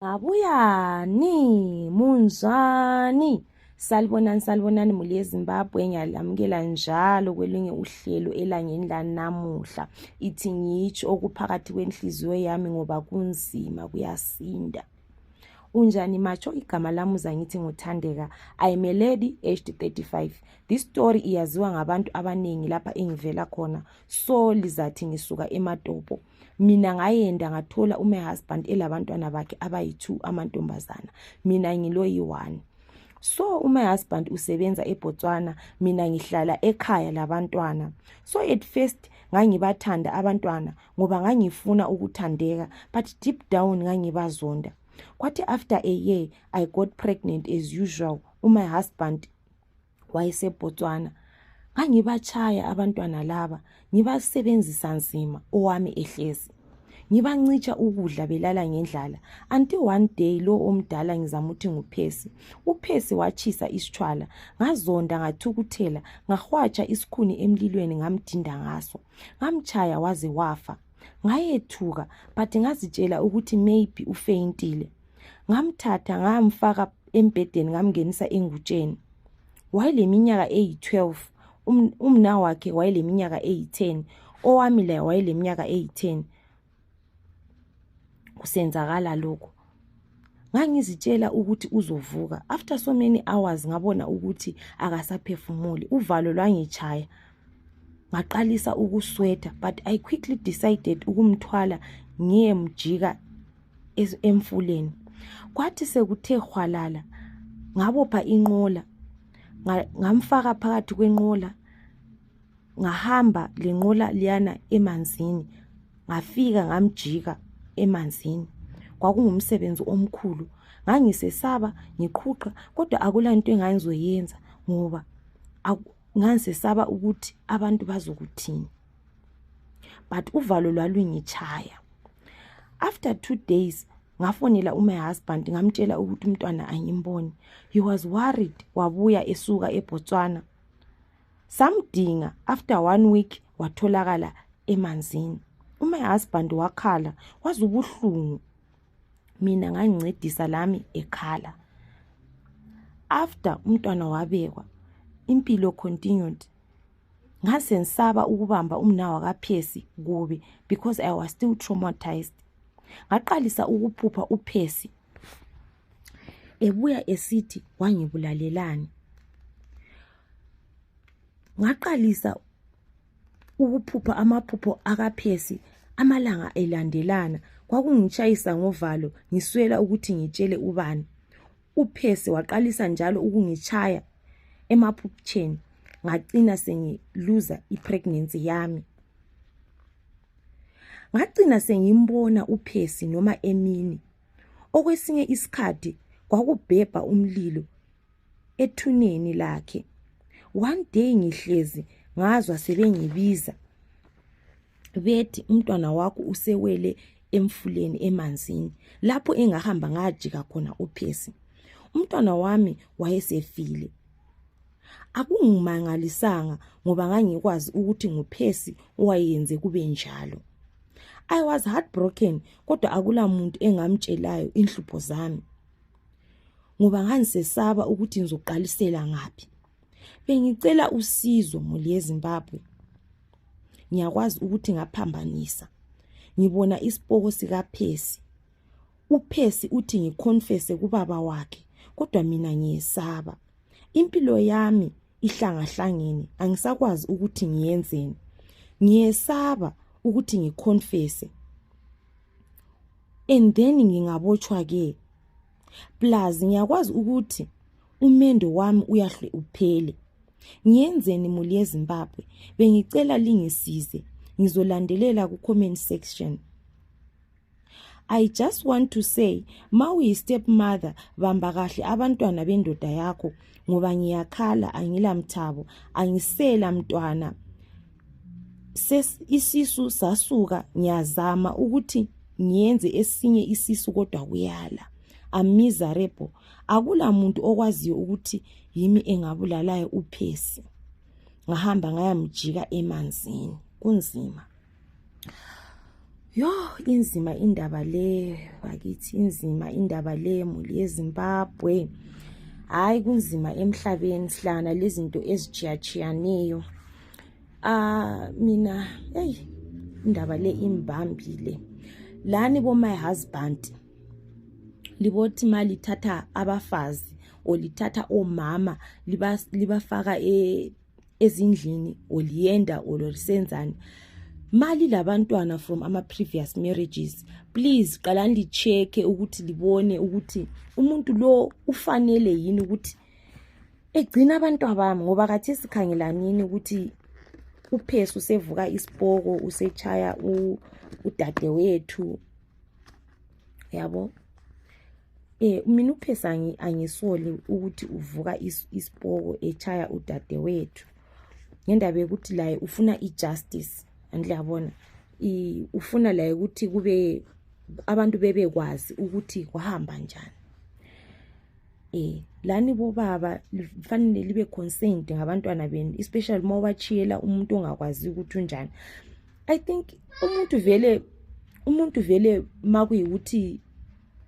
Ngabuyani, munjani? Salibonani, salibonani muli yeZimbabwe, ngiyalamukela njalo kwelunye uhlelo elangeni lanamuhla. Ithi ngitsho okuphakathi kwenhliziyo yami ngoba kunzima kuyasinda. Unjani macho igama lamuza ngithi nguthandeka. I am a lady aged 35. This story iyaziwa ngabantu abaningi lapha engivela khona. So lizathi ngisuka eMatopo. mina ngayenda ngathola ume husband elabantwana bakhe abayi-two amantombazana mina ngiloyi-one so umy husband usebenza ebotswana mina ngihlala ekhaya labantwana so at first ngangibathanda abantwana ngoba ngangifuna ukuthandeka but deep down ngangibazonda kwathi after a year i got pregnant as usual umy husband wayeseBotswana. Ngangibatshaya abantwana laba, ngibasebenzisa nzima owami ehlezi. Ngibancitsha ukudla belala ngendlala until one day lo omdala ngizamuthi nguPhesi. UPhesi watshisa isitshwala, ngazonda ngathukuthela, ngahwatsha isikhuni emlilweni ngamdinda ngaso. Ngamtshaya waze wafa. Ngayethuka but ngazitshela ukuthi maybe ufeyintile. ngamthatha ngamfaka embhedeni ngamngenisa engutsheni wayeleminyaka eyi-12 um, umna wakhe wayeleminyaka eyi-10 owami laye wayeleminyaka eyi-10 kusenzakala lokho ngangizitshela ukuthi uzovuka after so many hours ngabona ukuthi akasaphefumuli uvalo lwangitshaya ngaqalisa ukuswetha but i quickly decided ukumthwala ngiyemjika emfuleni kwathi sekuthe hwalala ngabopha inqola ngamfaka phakathi kwenqola ngahamba lenqola liyana emanzini ngafika ngamjika emanzini kwakungumsebenzi omkhulu ngangisesaba ngiqhuqha kodwa akula nto engangizoyenza ngoba ngangisesaba ukuthi abantu bazokuthini but uvalo lwalungitshaya after two days ngafonela umy husband ngamtshela ukuthi umntwana angimboni he was worried wabuya esuka ebotswana samdinga after one week watholakala emanzini umy husband wakhala waze ubuhlungu mina ngangincedisa lami ekhala after umntwana wabekwa impilo continued ngasensaba ukubamba umnawa kaphesi kubi because i was still traumatized ngaqalisa ukuphupha uphesi ebuya esithi wangibulalelani ngaqalisa ukuphupha amaphupho akaphesi amalanga elandelana kwakungitshayisa ngovalo ngiswela ukuthi ngitshele ubani uphese waqalisa njalo ukungitshaya emaphuputsheni ngacina sengiluza ipregnancy yami ngacina sengimbona uphesi noma emini okwesinye isikhathi kwakubhebha umlilo ethuneni lakhe one day ngihlezi ngazwa sebengibiza bethi umntwana wakho usewele emfuleni emanzini lapho engahamba ngajika khona uphesi umntwana wami wayesefile akungimangalisanga ngoba ngangikwazi ukuthi nguphesi owayenze kube njalo i was heartbroken kodwa akula muntu engamtshelayo inhlupho zami ngoba ngangisesaba ukuthi ngizoqalisela ngaphi Bengicela usizo muli yeZimbabwe. Ngiyakwazi ukuthi ngaphambanisa. Ngibona isipoko sikaPhesi. UPhesi uthi ngikhonfese kubaba wakhe kodwa mina ngiyesaba. Impilo yami ihlangahlangene angisakwazi ukuthi ngiyenzeni. Ngiyesaba ukuthi ngikhonfese. And then ngingabotshwa ke. Plus ngiyakwazi ukuthi umendo wami uyahle uphele ngiyenzeni muli yezimbabwe bengicela lingisize ngizolandelela ku-comment section i just want to say ma uyi-step mother bamba kahle abantwana bendoda yakho ngoba ngiyakhala angilamthabo angisela mntwana isisu sasuka ngiyazama ukuthi ngiyenze esinye isisu kodwa kuyala amizarebo akula muntu okwaziyo ukuthi yimi engabulalayo uphesi ngahamba ngayamjika emanzini kunzima yo inzima indaba le bakithi inzima indaba le muli yezimbabwe hhayi kunzima emhlabeni sihlangana lezinto ezitshiyatshiyaneyo ah mina eyi indaba le imbambile lani bo my husband libothi ma lithatha abafazi or lithatha omama libafaka e, ezindlini or liyenda or lisenzani mali labantwana from ama previous marriages please qalani lichecke ukuthi libone ukuthi umuntu lo ufanele yini ukuthi egcina abantwa bami ngoba kathi sikhangelanini ukuthi uphesi usevuka isipoko usechaya udadewethu yabo eh mina uphesa angisoli ukuthi uvuka isipoko echaya udadewethu ngendaba yokuthi laye ufuna ijustice andiyabona ufuna laye ukuthi kube abantu bebekwazi ukuthi kwahamba njani eh lani bobaba lifanele libe concerned ngabantwana benu especially uma ubachiyela umuntu ongakwazi ukuthi unjani i think umuntu vele umuntu vele uma kuyikuthi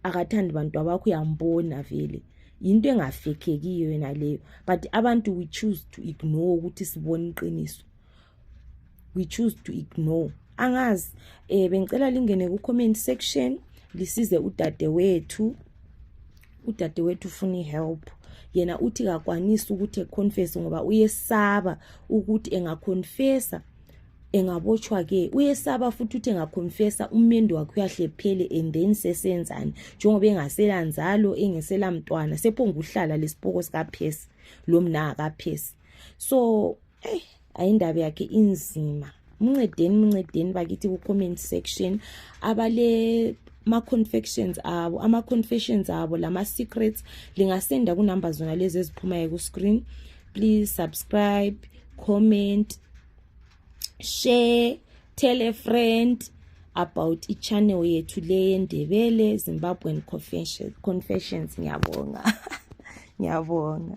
akathandi bantu abakho uyambona vele yinto engafekhekiyo yena leyo but abantu we choose to ignore ukuthi sibone iqiniso we choose to ignore angazi um eh, bengicela lingene ku-comment section lisize udade wethu udade wethu ufuna i-help yena uthi kakwanisi ukuthi econfese ngoba uyesaba ukuthi engaconfesa engabotshwa ke uyesaba futhi uthi engakhomfesa umendo wakhe uyahle phele and then sesenzani njengoba engasela nzalo engesela mntwana sephonguhlala lesipoko sikaphesi lomna akaphesi so eyi ayindaba yakhe inzima mncedeni mncedeni bakithi ku-comment section abale ma-confections abo ama-confessions abo lama-secrets lingasenda kunumber zona lezi eziphumayo ku-screen please subscribe comment share tell a friend about ichannel yethu le yendebele zimbabwean confessions, confessions ngiyabonga ngiyabonga